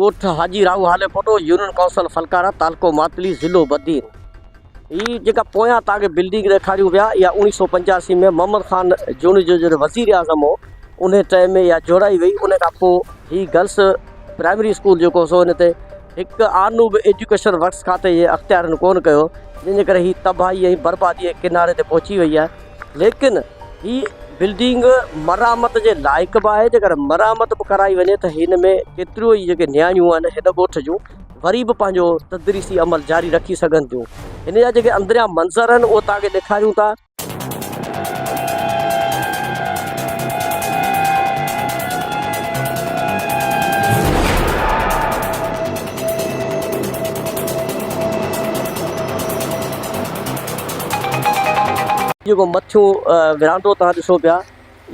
ڳوٺ Haji Rahu Hali Poto, union council Phulkara, تعلقو ماتلي، ضلعو بدين. هي جيڪا پويان توهان کي بلڊنگ ڏيکاريون پيا، اها اوڻيهه سؤ پنجاسي ۾ محمد خان جوڻيجو جڏهن وزير اعظم هو، انهيء ٽئم ۾ اها جوڙائي وئي. ان کان پوء هي گرلس پرائمري اسڪول جيڪو سو ان تي هڪ آنو به ايجوڪيشن ورڪس کاتي جي اختيارين ڪونه ڪيو، جنهن جي ڪري هي تباهي ۽ برباديء جي ڪناري تي پهچي وئي آهي. ليڪن هي بلڊنگ مرمت جي لائق به آهي جيڪڏهن مرمت به ڪرائي وڃي ته هن ۾ ڪيتريون ئي جيڪي نياڻيون آهن هن ڳوٺ جون وري به پنهنجو تدريسي عمل جاري رکي سگهن ٿيون هن جا جيڪي اندريان منظر آهن اهي توهان کي ڏيکاريون ٿا. جيڪو مٿيون ورانڊو توهان ڏسو پيا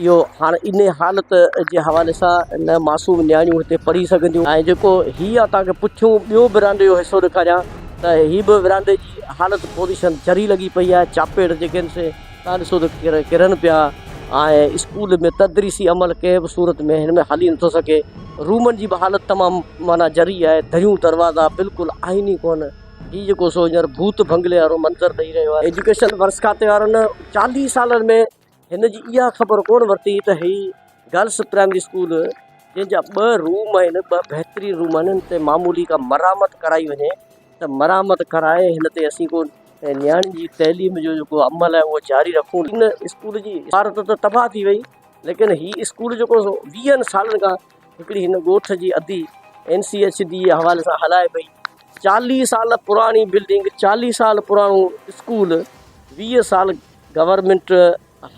اهو هاڻ انهي حالت جي حوالي سان نه معصوم نياڻيون هتي پڙهي سگهنديون ۽ جيڪو هي آء توهان کي پٺيون ٻيو ورانڊي جو حصو ڏيکاريان ته هي به ورانڊي جي حالت پوزيشن جھري لڳي پئي آهي چاپيڙ جيڪي آهن سي توهان ڏسو ته ڪرن پيا ۽ اسڪول ۾ تدريسي عمل ڪنهن به صورت ۾ هن ۾ هلي نٿو سگهي رومن جي به حالت تمام معنيٰ جھري آهي دريون دروازا بلڪل آهن ئي ڪونه هي جيڪو سو هينئر ڀوت بنگلي وارو منظر ڏئي رهيو آهي ايجوڪيشن ورڪس کاتي وارن چاليهه سالن ۾ هن جي اها خبر ڪونه ورتي ته هي گرلس پرائمري اسڪول جنهن جا ٻه روم آهن ٻه بهترين روم آهن ان تي معمولي ڪا مرامت ڪرائي وڃي ته مرامت ڪرائي هن تي اسين ڪو نياڻين جي تعليم جو جيڪو عمل آهي اهو جاري رکون ان اسڪول جي عمارت ته تباهه ٿي وئي ليڪن هي اسڪول جيڪو ويهن سالن کان هڪڙي هن ڳوٺ جي ادي اين سي ايڇ ڊي جي حوالي سان هلائي پئي چاليهه سال پراڻي بلڊنگ چاليهه سال پراڻو اسڪول ويهه سال گورنمينٽ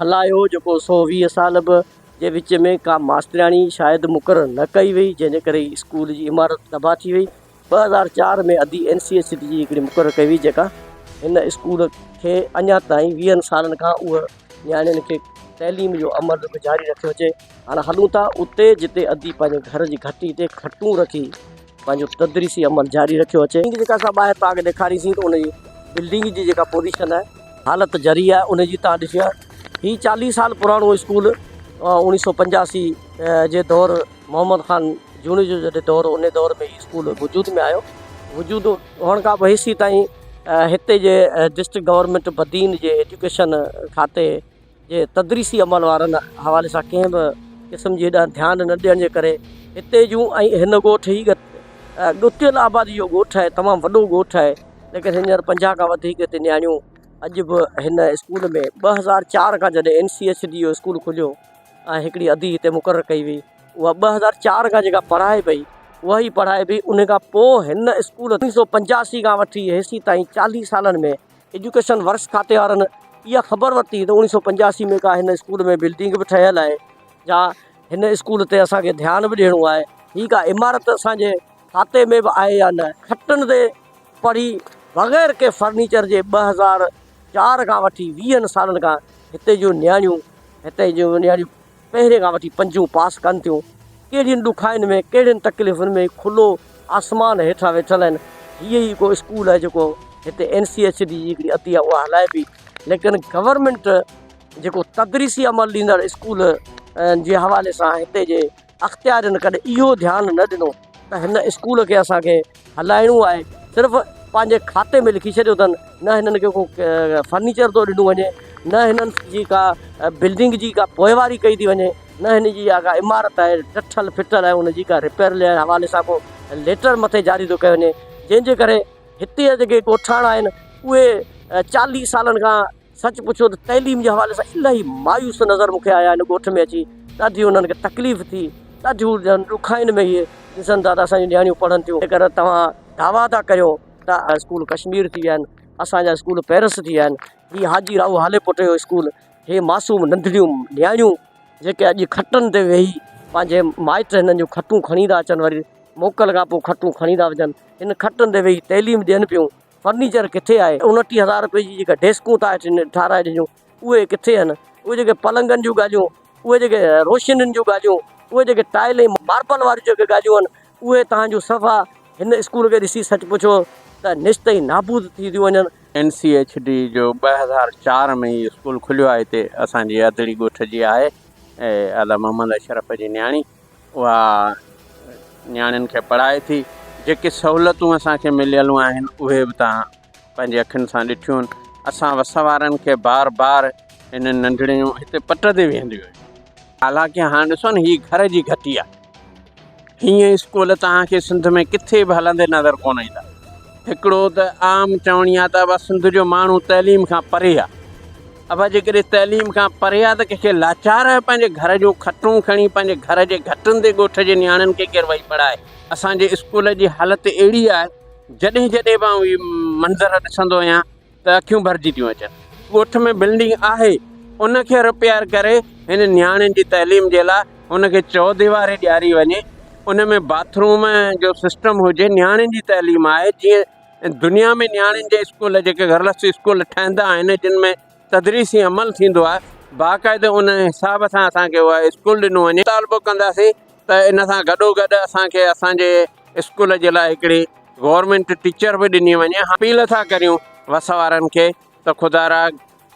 هلايو جيڪو سو ويهه سال به جي وچ ۾ ڪا ماسترياڻي شايد مقرر نه ڪئي وئي جنهن جي ڪري اسڪول جي عمارت تباهه ٿي وئي ٻه هزار چار ۾ ادي اين سي اي سٽي جي هڪڙي مقرر ڪئي وئي جيڪا هن اسڪول کي اڃا تائين ويهن سالن کان اهو نياڻين کي تعليم جو عمل به جاري رکيو اچي هاڻ هلون ٿا اتي جتي ادي پنهنجي گهر جي گهٽي تي کٽون رکي پنهنجو تدريسي عمل جاري رکيو اچي جيڪا اسان ٻاهر تان کي ڏيکاري سين ته ان جي بلڊنگ جي جيڪا پوزيشن آهي حالت ذري آهي ان جي تان ڏسي هي چاليهه سال پراڻو اسڪول اوڻيهه سو پنجاسي جي دور محمد خان جوڻيجو جڏهن دور انهي دور ۾ هي اسڪول وجود ۾ آيو وجود هئڻ کان پوء هيسي تائين هتي جي ڊسٽرڪٽ گورنمينٽ بدين جي ايجوڪيشن کاتي جي تدريسي عمل وارن حوالي سان ڪنهن به قسم جي هيڏانهن ڌيان نه ڏيڻ جي ڪري هتي جون ۽ هن ڳوٺ هي ڳتيل آبادي جو ڳوٺ آهي تمام وڏو ڳوٺ آهي ليڪن هينئر پنجاهه کان وڌيڪ هتي نياڻيون اڄ به هن اسڪول ۾ ٻه هزار چار کان جڏهن اين سي ايڇ ڊي جو اسڪول کليو ۽ هڪڙي ادي هتي مقرر ڪئي وئي اها ٻه هزار چار کان جيڪا پڙهائي پئي اها ئي پڙهائي پئي ان کان پوء هن اسڪول اڻ سو پنجاسي کان وٺي هيسي تائين چاليهه سالن ۾ ايجوڪيشن ورڪس کاتي وارن اها خبر ورتي ته اڻ سو پنجاسي ۾ ڪا هن اسڪول ۾ بلڊنگ به ٺهيل آهي جا هن اسڪول تي اسان کي ڌيان به ڏيڻو آهي هي ڪا عمارت اسان جي کاتي ۾ به آهي يا نه، کٽن تي پڙهي بغير ڪنهن فرنيچر جي ٻه هزار چار کان وٺي ويهن سالن کان هتي جون نياڻيون هتي جون نياڻيون پهرين کان وٺي پنجون پاس ڪن ٿيون، ڪهڙين ڏکائين ۾ ڪهڙين تڪليفن ۾ کلو آسمان هيٺان ويٺل آهن، هيء ئي ڪو اسڪول آهي جيڪو هتي اين سي ايڇ ڊي جي هڪڙي عطيه اها هلائي پئي ليڪن گورنمينٽ جيڪو تدريسي عمل ڏيندڙ اسڪول جي حوالي سان هتي جي اختيارين ڪڏهن اهو ڌيان نه ڏنو ته هن اسڪول کي اسان کي هلائڻو آهي صرف پنهنجي کاتي ۾ لکي ڇڏيو اٿن نه هنن کي ڪو فرنيچر ٿو ڏنو وڃي نه هنن جي ڪا بلڊنگ جي ڪا پوئواري ڪئي ٿي وڃي نه هن جي اها ڪا عمارت آهي ٽٺل ڦٽل آهي ان جي ڪا رپيئر جي حوالي سان ڪو ليٽر مٿي جاري ٿو ڪيو وڃي جنهن جي ڪري هتي جا جيڪي ڳوٺاڻا آهن اهي چاليهه سالن کان سچ پڇو ته تعليم جي حوالي سان الاهي مايوس نظر مون کي آيا ان ڳوٺ ۾ اچي ڏاڍي انهن کي تڪليف ٿي ڏاڍي ڄڻ ڏکائين ۾ اهي ڏسن ٿا ته اسانجون نياڻيون پڙهن ٿيون جيڪر توهان دعويٰ ٿا ڪريو ته اسڪول ڪشمير ٿي ويا آهن اسانجا اسڪول پيرس ٿي ويا آهن هي حاجي راهو هاليپوٽ جو اسڪول هي معصوم ننڍڙيون نياڻيون جيڪي اڄ کٽن تي ويهي پنهنجي مائٽ هنن جون کٽون کڻي ٿا اچن وري موڪل کان پوء کٽون کڻي ٿا وڃن هن کٽن تي ويهي تعليم ڏين پيون فرنيچر ڪٿي آهي انٽيهه هزار رپئي جي جيڪا ڊيسڪون تان هيٺ ٺاهرائي ڏنيون اهي ڪٿي آهن اهي جيڪي پلنگن جون ڳالهيون اهي جيڪي روشنين جون ڳالهيون اهي جيڪي ٽائل ۽ ماربل واريون جيڪي ڳالهيون آهن اهي تان جون صفا هن اسڪول کي ڏسي سچ پڇو ته نشت ۽ نابود ٿي ٿيون وڃن. اين سي ايڇ ڊي جو ٻه هزار چار ۾ هي اسڪول کليو آهي هتي اسان جي ادڙي ڳوٺ جي آهي ادا محمد اشرف جي نياڻي اها نياڻين کي پڙهائي ٿي جيڪي سهولتون اسان کي مليلون آهن اهي به تان پنهنجي اکين سان ڏٺيون اسان وس وارن کي بار بار هنن ننڍڙيون هتي پٽ تي ويهنديون آهن حالانڪه هاڻ ڏسو نه هي گهر جي گهٽي آهي هيئن اسڪول توهان کي سنڌ ۾ ڪٿي به هلندي نظر ڪونه ايندا هڪڙو ته عام چوڻي آهي ته سنڌ جو ماڻهو تعليم کان پري آهي اڀا جيڪڏهن تعليم کان پري آ ته ڪنهن کي لاچار آهي پنهنجي گهر جون کٽون کڻي پنهنجي گهر جي گهٽن تي ڳوٺ جي نياڻين کي ڪير وئي پڙهائي. اسان جي اسڪول جي حالت اهڙي آهي جڏهن جڏهن به آئون هي منظر ڏسندو آهيان ته اکيون ڀرجي ٿيون اچن. ڳوٺ ۾ بلڊنگ آهي ان کي رپيئر ڪري هن نياڻين جي تعليم جي لا ان کي چوديواري ڏياري وڃي ان ۾ باٿ روم جو سسٽم هجي نياڻين جي تعليم آهي جيئن دنيا ۾ نياڻين جي اسڪول جيڪي گرلس اسڪول ٺهندا آهن جن ۾ تدريسي عمل ٿيندو آهي باقاعده ان حساب سان اسان کي اهي اسڪول ڏنو وڃي مطالبو ڪنداسين ته ان سان گڏو گڏ اسان کي اسان جي اسڪول جي لاء هڪڙي گورنمينٽ ٽيچر به ڏني وڃي هاڻ اپيل ٿا ڪريون وس وارن کي ته خدارا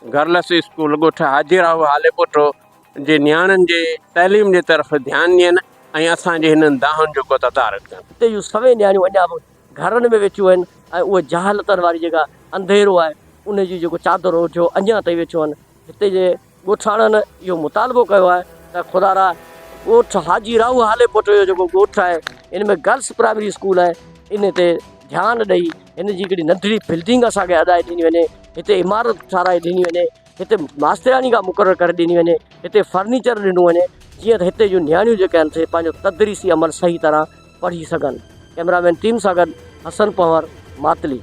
گرلس اسڪول ڳوٺ حاجي راهو هاليپوٽو جي نياڻين جي تعليم جي طرف ڌيان ڏين ۽ اسان جي هنن دانهن جو ڪو تدارڪ ڪن. اتي جون سوين نياڻيون اڃا به گهرن ۾ ويٺيون آهن ۽ اهي جهالتن واري جيڪا انڌيرو آهي ان جي جيڪو چادر اوڍيو اڃان تائين ويٺيون آهن هتي جي ڳوٺاڻن اهو مطالبو ڪيو آهي ته خدا را ڳوٺ حاجي راهو هاليپوٽو جو جيڪو ڳوٺ آهي ان ۾ گرلس پرائمري اسڪول آهي ان تي ڌيان ڏئي هن جي هڪڙي ننڍڙي بلڊنگ اسان کي هڏائي ڏني وڃي هتي عمارت ٺهرائي ڏني وڃي هتي ماسترياڻي ڪا مقرر ڪري ڏني وڃي هتي فرنيچر ڏنو وڃي جيئن ته هتي جون نياڻيون جيڪي آهن سي پنهنجو تدريسي عمل صحيح طرح پڙهي سگهن ڪئميرا مين ٽيم سان گڏ حسن پنهور ماتلي.